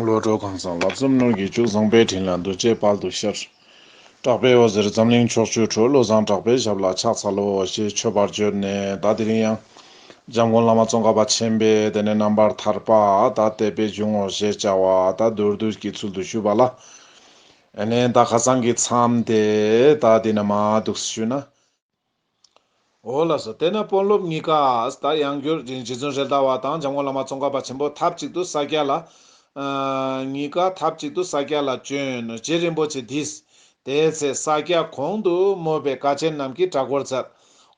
བློ་གྲོས་གང་བཟང་ལབ་ཙམ་སྣོད་ཀྱི་ཅུང་བཟང་པའི་དྲིན་ལ་འདུ་བྱེད་དཔལ་དུ་ཤར། གྲགས་པའི་འོད་ཟེར་འཛམ་གླིང་ཕྱོགས་བཅུར་འཕྲོས་བློ་བཟང་གྲགས་པའི་ཞབས་ལ་ཕྱག་འཚལ་ལོ་ཞེས་མཆོད་པར་བརྗོད་ནས་བདག་དེ་རིང་ཡང། འཇམ་མགོན་བླ་མ་ཙོང་ཁ་པ་ཆེན་པས་དེ་ནས་རྣམ་པར་ཐར་པ་དག་དད་པས་འབྱུང་ངོ་ཞེས་བྱ་བ་དག་མདོར་བསྡུས་ཀྱི་ཚུལ་དུ་ཞུས་པ་ལ། ནས་བདག་ཁ་སང་གི་མཚམས་དེ་དག་དེ་ན་མ་འདུག་ཞུས་ན། འོ་ལགས་སོ་དེ་ན་དཔོན་སློབ་གཉིས་ཀ་ད་ཡང་རྒྱུ་རྗེ་བཙུན་རེད་ཟླ་བ་དང་འཇམ་དབང་བླ་མ་ཙོང་ཁ་པ་ཆེན་པོ་ཐབས་ཅིག་ཏུ་ས་སྐྱ་ལ། གཉིས་ཀ་ཐབས་ཅིག་ཏུ་ས་སྐྱ་ལ་བྱོན་ནོ་རྗེ་རིན་པོ་ཆེ་དིས་དེའི་ཚེ་ས་སྐྱ་གོང་དུ་སྨོས་པའི་བཀའ་ཆེན་རྣམས་ཀྱི་གྲྭ་སྐོར་བསྩལ།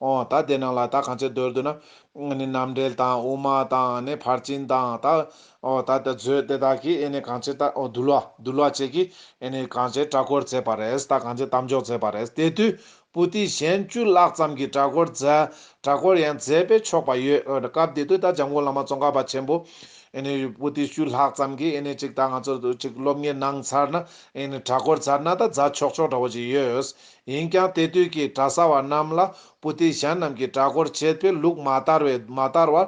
ཨོ་ད་དེ་ནང་ལ་ད་གང་ཅི་འདོད་འདོད་ན། ནི་རྣམ་འགྲེལ་དང་དབུ་མ་དང་ནི་ཕར་ཕྱིན་དང་ད། ཨོ་ད་དེ་མཛོད་དེ་དག་གིས་ཨེ་ནི་གང་ཅི་ད་འོ་འདུལ་བ་འདུལ་བ་བཅས་ཀྱིས་ཨེ་ནི་གང་ཅི་གྲྭ་སྐོར་བསྩལ་པ་རེད་ད་གང་ཅི་གཏམ་འཇོག་མཛད་པ་རེད་དེ་དུས་པུ་ཏི་གཞན་བཅུ་ལྷག་ཙམ་གྱིས་གྲྭ་སྐོར་མཛད། གྲྭ་སྐོར་ཡང་མཛད་པས་ཆོག་པ་ཡོད། སྐབས་དེ་དུས་ད་འཇམ་མགོན་བླ་མ་ཙོང་ཁ་པ་ཆེན་པོ། པུ་ཏི་བཅུ་ལྷག་ཙམ་གྱིས་གཅིག་ད་ང་ཚོར་གཅིག་སློབ་གཉེར་གནང་ཚར་ན། གྲྭ་སྐོར་ཚར་ན་ད་རྫ་ཆོག་ཆོག་འདྲ་བོ་ཅིག་ཡོད། ཡིན་ཀྱང་དེ་དུས་ཀྱི་གྲྭ་ས་བ་རྣམས་ལ་པུ་ཏི་གཞན་རྣམས་ཀྱིས་གྲྭ་སྐོར་བྱེད་པའི་ལུགས་མ་དར་བས་མ་དར་བར་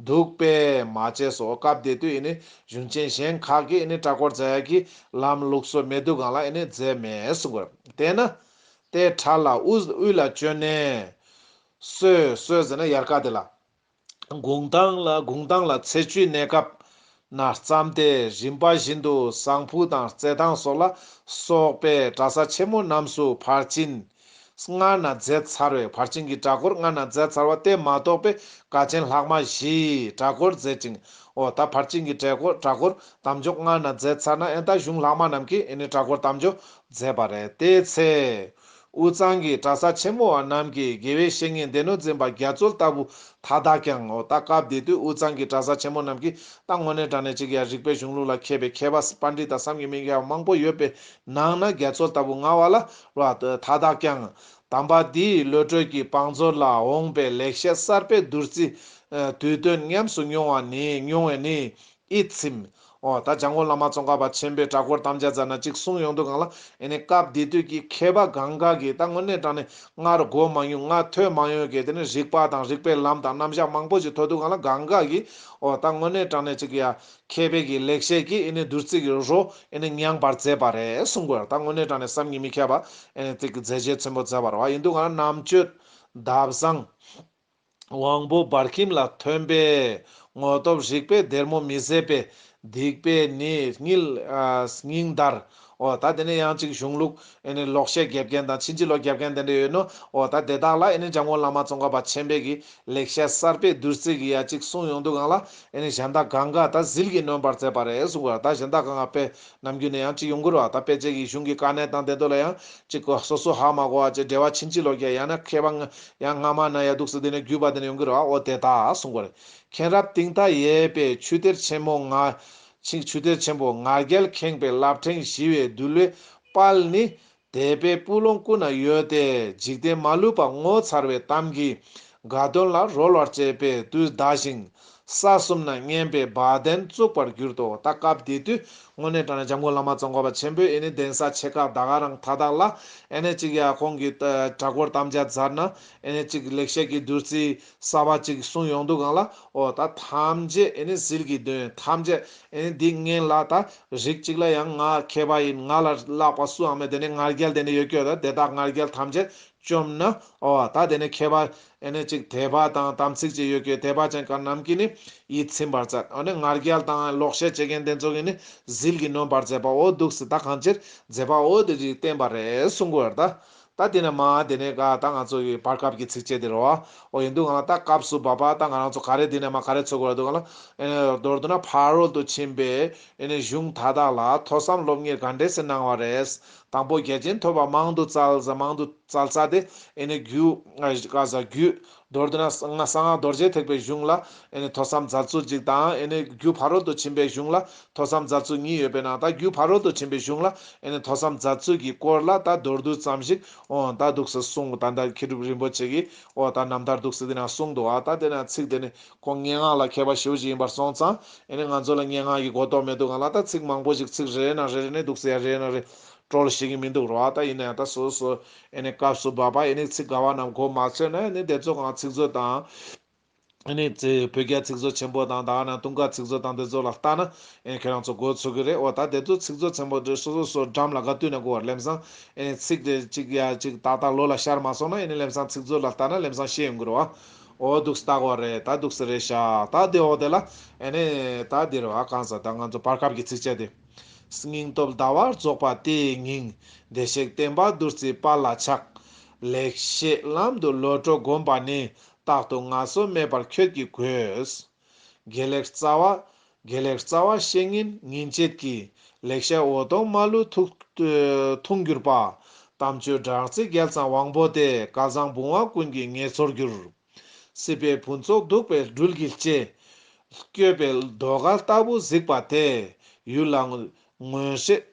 འདུག་པས་མ་བྱས་སོ། སྐབས་དེ་དུས་གཞུང་ཆེན་གཞན་ཁག་གིས་གྲྭ་སྐོར་མཛད་ཀྱི་ལམ་ལུགས་སོ་མེད་དུས་གང་ལ་མཛད་མེད་གསུངས། དེས་ན། ཏའི་བྲག་ལ་ཨུས་དབུས་ལ་བསྐྱོད་ནས། གསོས་གསོས་ཟེར་ན་ཡར་ཀ་དེ་ལ། དགུང་གདངས་ལ་དགུང་གདངས་ལ་ཚེས་བཅུའི་གནས་སྐབས་ན་བརྩམས་ཏེ་རིམ་པ་བཞིན་དུ་བཟང་ཕུག་དང་རྩེ་ཐང་སོགས་ལ་སོགས་པའི་གྲྭ་ས་ཆེན་མོ་རྣམས་སུ་བར་གཅིན་སྔ་ན་མཛད་ཚར་བས་བར་གཅིན་གྱི་གྲྭ་སྐོར་སྔ་ན་མཛད་ཚར་བ་དེ་མ་གཏོགས་པའི་དགའ་ཆེན་ལྷག་མ་བཞིའི་གྲྭ་སྐོར་མཛད་ཅིང་འོ་ད་བར་གཅིན་གྱི་གྲྭ་སྐོར་གྲྭ་སྐོར་དམ་འཇོག་སྔ་ན་མཛད་ཚར་ན་ཨེ་ད་གཞུང་ལྷག་མ་རྣམས་ཀྱིས་ཨེ་ནི་གྲྭ་སྐོར་དམ་འཇོག་མཛད་པ་རེད། དེའི་ཚེ། དབུས་གཙང་གི་གྲྭ་ས་ཆེན་མོ་བ་རྣམས་ཀྱིས་དགེ་བའི་བཤེས་གཉེན་སྡེ་སྣོད་འཛིན་པ་རྒྱ་མཚོ་ལྟ་བུ་མཐའ་དག་ཀྱང་ངོ། ད་སྐབས་འདི་དུས་དབུས་གཙང་གི་གྲྭ་ས་ཆེན་མོ་རྣམས་ཀྱིས་ད་དངོས་གནས་དྲ་གནས་ཅིག་ཡ་རིག་པའི་གཞུང་ལུགས་ལ་མཁས་པའི་མཁས་པ་པ་འདི་དང་བསམ་གྱི་མི་མཁས་པ་མང་པོ་ཡོད་པའི་ནང་ན་རྒྱ་མཚོ་ལྟ་བུ་ང་བ་ལ་རོ། མཐའ་དག་ཀྱང། དམ་པ་འདིས་བློ་གྲོས་ཀྱི་བང་མཛོད་ལ་འོངས་པའི་ལེགས་བཤད་གསར་པའི་བདུད་རྩི། དུས་སྟོན་ཉམས་སུ་མྱོང་བ་ནི་མྱོང་བས་ནི། ཨེ་ཚིམ། འོ་ད་འཇང་དགོན་བླ་མ་ཙོང་ཁ་པ་ཆེན་པོས་བྲག་འཁོར་དམ་བཅའ་མཛད་ན་ཅིག་གསུངས་ཡོང་འདུག་གང་ལགས་ཨེ་ནས་སྐབས་དེ་དུས་ཀྱི་མཁས་པ་གང་གཱ་གིས་ད་དངོས་གནས་དྲང་ནས་སྔར་སྒོ་མང་ཡུལ་ལྔ་ཐོས་མང་ཡོད་སྐད་དེ་ནས་རིགས་པ་དང་རིགས་པའི་ལམ་དང་རྣམ་བཞག་མང་པོ་ཅིག་ཐོས་འདུག་གང་ལགས་གང་གཱ་གིས་འོ་ད་དངོས་གནས་དྲང་ནས་ཅིག་ཡ། མཁས་པའི་གིས་ལེགས་བཤད་ཀྱིས་ཨེ་ནས་བདུད་རྩི་གི་རོ་ཨེ་ནས་མྱངས་པར་མཛད་པ་རེད་གསུངས་དགོས་ད་དངོས་གནས་དྲང་ནས་སམ་ཉི་མི་མཁས་པ་ཨེ་ནས་ཏིག་གི་མཛད་རྗེས་ཚོན་པོ་མཛད་པར་བ་ཡིན་འདུག་གང་ལགས་རྣམ་དཔྱོད། འདབ་བཟང། དབང་པོ་འབར་ཁྱིམ་ལ་ཐོན་པས་དངོས་སྟོབས་རིག་པའི་སྡེར་མོ་མི་བཟད་པས་སྡིག་པའི་ནི་སྙིལ། སྙིང་འདར། ཨོ་ད་དེ་ནས་ཡང་ཅིག་གཞུང་ལུགས་ནི་ལོག་བཤད་རྒྱབ་མཁན་དང་ཕྱིན་ཅི་ལོག་རྒྱབ་མཁན་དེ་འདྲ་ཡོད་ནོ། ཨོ་ད་དེ་དག་ལ་ནི་འཇམ་མགོན་བླ་མ་ཙོང་ཁ་པ་ཆེན་པད་ཀྱི་ལེགས་བཤད་གསར་པས་བདུད་རྩི་གི་ཡ་གཅིག་གསུངས་ཡོང་དུས་གང་ལ་ནི་གཞན་དག་གང་ག་ད་ཟིལ་གྱིས་ནོན་པར་མཛད་པ་རེད་གསུངས་པ་ད་གཞན་དག་གང་ག་པས་ནམ་རྒྱུན་ནས་ཡང་ཅི་ཡོང་གི་རོགས་ད་ཕལ་ཆེར་གྱི་གཞུང་གི་དཀའ་གནད་དང་དེ་དོ་ལ་ཡང་ཅི་གོ་སོ་སོ་ཧ་མ་གོ་བ་བཅས་འབྲེལ་བ་ཕྱིན་ཅི་ལོག་རྒྱ་ཡང་ན་མཁས་པ་ཡང་སྔ་མ་ན་ཡ་འདུག་སེ་དེ་ནས་བརྒྱུད་པ་དེ་ནས་ཡོང་གི་རོགས་ཨོ་དེ་ད་གསུང་གོ་རེ་མཁན་རབ་གཏིང་མཐའ་ཡས་པའི་ཆུ་གཏེར་ཆེན་མོ་ང། ཆུ་གཏེར་ཆེན་པོ་ང་རྒྱལ་ཁེངས་པའི་རླབས་ཕྲེང་བཞི་བའི་བདུད་བློའི་དཔལ་ནི། དད་པའི་སྤུ་ལོང་ཀུན་ན་ཡོད་དེ་འཇིག་རྟེན་མ་ལུས་པ་ངོ་མཚར་བའི་གཏམ་གྱིས་དགའ་སྟོན་ལ་རོལ་བར་བྱེད་པའི་དུས་འདའ་ཞིང། ས་གསུམ་ན་སྙན་པའི་བ་དན་བཙུགས་པར་གྱུར་ཏོ་ད་སྐབས་དེ་དུས་དངོས་གནས་དྲ་གནས་འཇམ་མགོན་བླ་མ་གཙོ་འཁོར་བ་ཆེན་པོའི་ཨེ་ནི་གདན་ས་ཆེ་ཁག་ད་ག་རང་མཐའ་དག་ལ་ཨེ་ནི་གཅིག་ཡ་ཁོང་གི་དྲ་སྐོར་དམ་བཅའ་མཛད་ན་ཨེ་ནི་གཅིག་ལེགས་བཤད་ཀྱི་བདུད་རྩིའི་གསར་བ་གཅིག་གསུངས་ཡོང་འདུག་གང་ལ་ཨོ་ད་ཐམས་ཅད་ཨེ་ནི་ཟིལ་གྱིས་འདོན་ཐམས་ཅད་ཨེ་ནི་སྡིག་ངན་ལ་ད་རིགས་གཅིག་ལ་ཡང་ང་མཁས་པ་ཡིན་ང་ལ་བརླག་པ་སུའང་མེད་དེ་ནི་ངར་རྒྱལ་དེ་ནི་ཡོད་ཁྱོད་ལ་དེ་དག་ངར་རྒྱལ་ཐམས་ཅད་བཅོམ་ན་ཨོ་ད་དེ་ནི་མཁས་པ་ཨེ་ནི་གཅིག་དད་པ་དང་དམ་ཚིག་ཅིག་ཡོད་ཁྱོད་དད་པ་ཅན་གང་རྣམས་ཀྱིས་ནི་ཡིད་ཚིམ་པར་མཛད་ཨོ་ནི་ངར་རྒྱལ་དང་ལོག་བཤད་བྱེད་མཁན་དེ་ཚོ་གིས་ནི་ཟིལ་གྱིས་ནོན་པར་མཛད་པའོ་འདུག་སྲིད་ད་གང་ཅིར་མཛད་པའོ་དེ་རིགས་བསྟན་པ་རེ་ཟུང་གོ་ད། ད་དེ་ནས་མ་དེ་ནས་ག་ད་ང་ཚོ་བའི་བར་སྐབས་ཀྱི་ཚིགས་བཅད་དེ་རོ། ཨོ་ཡིན་འདུག་ང་ལ་ད་སྐབས་སུ་བབ་པ་ད་ང་རང་ཚོ་ག་རེ་དེ་ནས་མ་ག་རེ་འཚོལ་དགོས་ར་འདུག་ང་ལ། ཨེ་ནས་མདོར་བསྡུ་ན་ཕ་རོལ་ཏུ་ཕྱིན་པའི་ཨེ་ནས་གཞུང་དག་དག་ལ་ཐོས་བསམ་སློབ་གཉེར་ག་འདྲས་སེ་གནང་བ་རེད། དང་པོ་རྒྱལ་ཆེན་ཐོས་པ་མང་དུ་བཙལ། མང་དུ་བཙལ་ཚ་དེ་ཨེ་ནས་རྒྱུ། ཀ་བཟའ་རྒྱུད། མདོར་བསྡུ་ན། གསང་སྔགས་རྡོ་རྗེ་ཐེག་པའི་གཞུང་ལ། ཐོས་བསམ་རྫ་ཚུལ་གཅིག་དང། རྒྱུ་ཕ་རོལ་ཏུ་ཕྱིན་པའི་གཞུང་ལ། ཐོས་བསམ་རྫ་ཚུལ་གཉིས་ཡོད་པས་ན། ད་རྒྱུ་ཕ་རོལ་ཏུ་ཕྱིན་པའི་གཞུང་ལ། ཐོས་བསམ་རྫ་ཚུལ་གྱི་སྐོར་ལ་ད་མདོར་བསྡུ་ཙམ་ཞིག། ད་འདུག་ཟེར་གསུངས། ད་ལྟར་མཁས་གྲུབ་རིན་པོ་ཆེ་གིས། ད་ནམ་ལྟར་འདུག་ཟེར་དེ་ནང་གསུངས་འདུག་ཨ། ད་དེ་ནང་ཚིག་དེ་ནི་ཁོང་སྙན་ངག་ལ་མཁས་པ་ཞེ་བོ་ཞིག་ཡིན་པར་སོང་ཙང། ང་ཚོ་ལ་སྙན་ངག་གི་གོ་རྟོགས་མེད་འདུག་ཨ། ད་ཚིག་མང་པོ་ཞིག་ཚིག་རེ་རེ་ནང་རེ་རེ་ནས་འདུག་ཟེར་ཡ་རེ་ཡ་ནང་རེ། བཀྲོལ་ཤེས་ཀྱི་མི་འདུག་རོ་ཨ། ད་ཡིན་ན་ཡང་ད་སོ་སོ། ཨེ་ནི་སྐབས་སུ་བབས་པ་ཨེ་ནི་ཚིག་དགའ་བ་རྣམས་གོ་མ་ཆོད་ན་ཨེ་ནི་དེ་ཚོ་གང་ཚིག་མཛོད་དང། ཨེ་ནི། བོད་རྒྱ་ཚིག་མཛོད་ཆེན་པོ་དང་དག་ན་དུང་དཀར་ཚིག་མཛོད་དང་དེ་ཚོ་ལ་བལྟ་ན་ཨེ་ནི་ཁྱེད་རང་ཚོ་གོ་ཆོད་ཀྱི་རེད་འོ་ད་དེ་ཚོ་ཚིག་མཛོད་ཆེན་པོ་འདིར་སོ་སོ་སོ་འགྲམ་ལ་དགའ་བསྟུན་ནས་གོ་བར་ལེམ་སང་ཨེ་ནི་ཚིག་དེ་གཅིག་ཡ་གཅིག་ཏག་ཏག་ལོ་ལ་ཤར་མ་སོང་ན་ཨེ་ནི་ལེམ་སང་ཚིག་མཛོད་ལ་བལྟ་ན་ལེམ་སང་ཤེས་ཡོང་གི་རོ་ཨ་འོ་སྡུག་སི་དག་བ་རེད་ད་སྡུག་སི་རེད་ཤག་ད་དེ་འོག་དེ་ལ་ཨེ་ནི་ད་འདིར་བ་གང་ཟ་ད་ང་ཚོ་བར་སྐབས་ཀྱི་ཚིག་བཅད་དེ། སྙིང་སྟོབས་ཟླ་བར་རྫོགས་པ་དེ་ཡི་སྙིང། བདེ་གཤེགས་བསྟན་པ་བདུད་རྩིའི་དཔའ་ལ་ཆགས། ལེགས་བཤད་ལམ་དུ་ལོ་དྲོ་བསྒོམ་པ་ནི། རྟག་ཏུ་ང་སོ་མེད་པར་ཁྱོད་ཀྱིས་གོས། དགེ་ལེགས་རྩ་བ། དགེ་ལེགས་རྩ་བ་བཤེས་གཉེན་ཉིན་བྱེད་ཀྱི། ལེགས་བཤད་འོ་དོང་མ་ལུས་འཐུང་གྱུར་པ། དམ་ཆོས་སྦྲགས་ཚིག་རྒྱལ་ཚང་དབང་པོ་སྟེ། སྐལ་བཟང་བུང་བ་ཀུན་གྱི་ངེས་ཚོར་གྱུར། སྲིད་པའི་ཕུན་ཚོགས་གདུག་པའི་སྦྲུལ་གྱིས་བཅད། བསྐྱོད་པའི་ཟློས་གར་ལྟ་བུ་གཟིགས་པ་དེ། ཡུལ་ལ་མངོན་ཤེས་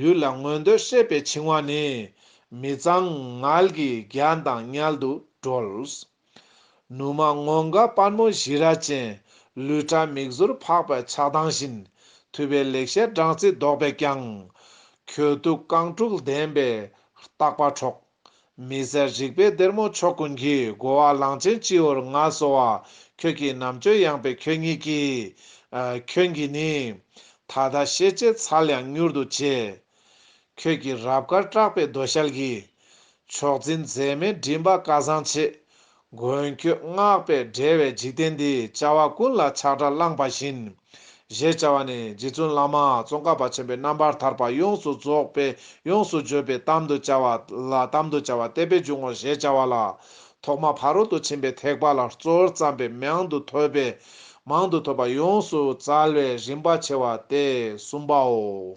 ཡུལ་ལ་མངོན་འདོད་ཤེས་པའི་འཆིང་བ་ནི། མི་གཙང་ངལ་གྱི་རྒྱ་མདངས་མཉལ་དུ་དཀྲོལ། ནུ་མ་སྔོ་འགག་སྤར་མོ་བཞི་ར་ཅན། ལུས་ཕྲ་མིག་ཟུར་འཕགས་པའི་ཆགས་སྡང་བཞིན། ཐུལ་བའི་ལེགས་བཤད་སྦྲང་རྩི་བདོག་པས་ཀྱང། གྱོད་གཏུགས་རྐང་དྲུག་ལྡན་པའི་རྟག་པ་འཕྲོག། མི་ཟད་རིག་པའི་སྡེར་མོ་མཆོག་ཀུན་གྱི་སྒོ་བ་གླང་ཆེན་སྤྱི་བོར་མངའ་གསོལ་བ། ཁྱོད་ཀྱིས་རྣམ་དཔྱོད་ཡངས་པའི་ཁྱོད་ཉིད་ཀྱིས། ཁྱོད་ཀྱིས་ནི། ད་ལྟ་ཤེས་བྱའི་ཚལ་ཡང་མྱུར་དུ་བྱེད། ཁྱོད་ཀྱི་རབ་དཀར་བཀྲག་པའི་རྡོ་ཞལ་གྱིས། མཆོག་འཛིན་མཛད་མའི་མགྲིན་པ་བཀའ་བཟང་ཆེ། མགོན་ཁྱོད་བསྔགས་པས་བསྒྲལ་བའི་འཇིག་རྟེན་འདི་བྱ་བ་ཀུན་ལ་ཆགས་སྒྲ་བླངས་པ་བཞིན། ཞེས་བྱ་བ་ནི་རྗེ་བཙུན་བླ་མ་ཙོང་ཁ་པ་ཆེན་པོའི་རྣམ་པར་ཐར་པ་ཡོངས་སུ་རྫོགས་པས་ཡོངས་སུ་བརྗོད་པའི་གཏམ་དུ་བྱ་བ་ལ་གཏམ་དུ་བྱ་བ་གཏད་པས་འབྱུང་ངོ་ཞེས་བྱ་བ་ལ། ཐོག་མ་ཕ་རོལ་ཏུ་ཕྱིན་པའི་ཐེག་པ་ལ་གཙོར་བརྩམས་པའི་མང་དུ་ཐོས་པས་མང་དུ་ཐོས་པ་ཡོངས་སུ་བཙལ་བས་རིམ་པ་ཕྱེ་བ་སྟེ་གསུམ་པའོ།